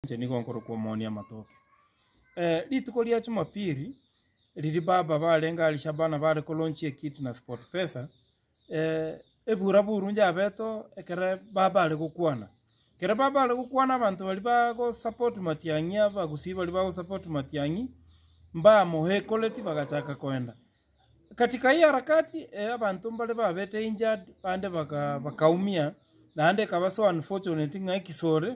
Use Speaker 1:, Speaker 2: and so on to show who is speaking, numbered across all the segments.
Speaker 1: Inche nigo nkorokwa omoonia amatoke. Eh, rituko ria Jumapili, riria baba barenge Alishabana bare kolaunch ekitu na SportPesa, eh, ebura buru njabeto ekere baba are gokwana. Ekere baba are gokwana abanto bari bagosupport Matiang'i, abagusii bari bagosupport Matiang'i, mbamoekoreti bagachaka koenda. Katika hii harakati, eh, abanto mbare babete injured, bande baka- bakaumia, naende ekaba so unfortunate ng'a ekisore,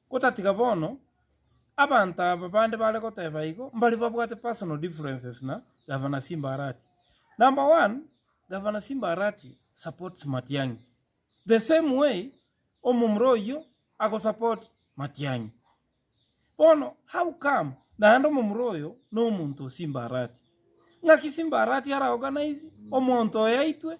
Speaker 1: Otatiga bono, abanto aba bande bare goteba igo mbare babwate personal differences na Governor Simba Arati. Number one, Governor Simba Arati supports Matiang'i the same way omomura oyio agosupport Matiang'i. Bono how come naende omomura oyo nomonto o Simba Arati? Ng'aki Simba Arati araorganize omonto oye aitwe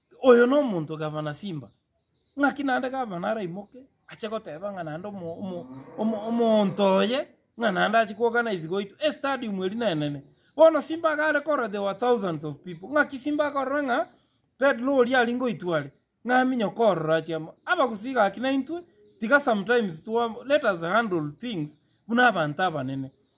Speaker 1: Oyo nomonto gavana simba. Ng'aki naende gavana araimoke ache goteba ng'a naende omo- omo- omo- omonto oye ng'a naende ache koorganise goitwa estadium eri nenene. Bono simba iga are korora there were thousands of people. Ng'aki simba akorora ng'a pedro oria aria ngoitwa are, ng'a aminye okoorora ache amo. Abagusii gaki naintwe, tiga sometimes twa- let us handle things buna abanto abanene.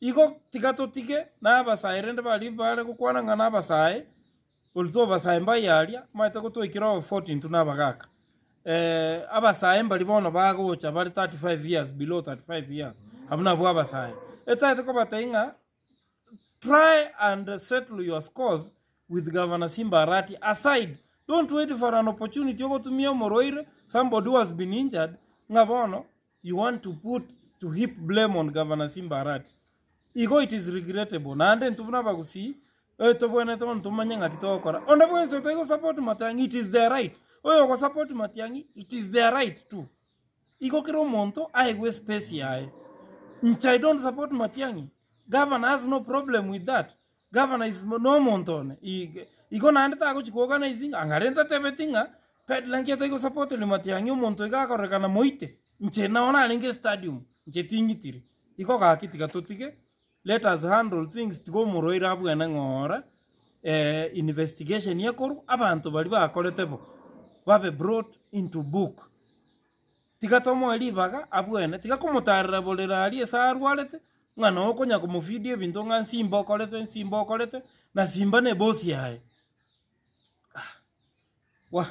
Speaker 1: Igo tiga totige nabasae rende baria bare gokwana ng'a nabasae, gose tobasae mbaye aria amaete gotwaikera obofoti intwe nabagaaka. Eh, abasae mbaria bono bagocha bare 35 years, below 35 years, abwo nabwo abasae. Etaete kobatebia ng'a try and settle your scores with Governor Simba Arati aside, don't wait for an opportunity ogotumia omorwaire, somebody who has been injured, ng'a bono You want to put to heap blame on Governor Simba Arati. Igo it is regrettable naende intwe buna abagusii eh tobwenerete bono tomanye ng'aki togokora. Onde bwensi otari go support Matiang'i it is their right. Oyo ogo support Matiang'i it is their right too. Igo kera omonto aegwe espesi yaye. Nche I don't support Matiang'i. Governor has no problem with that. Gavana is nomonto one, igo naende tagochi kogana is ng'a anga rento atebeti ng'a pedla nki atari gosupport ri Matiang'i omonto iga akorekana moite inche nao narenge stadium inche tingitiri igo gaki tiga totige let us handle things tiga omoroire abwene ng'a ore investigation ekorwa abanto baria bakorete bo babe brought into book. Tiga tomoe ribaga abwene, tiga komotaarera bore raaria ase arwarete, ng'a noe okonya komofeedia ebinto ng'a nsimba okorete, nsimba okorete, na simba nebosi yaye. Wah!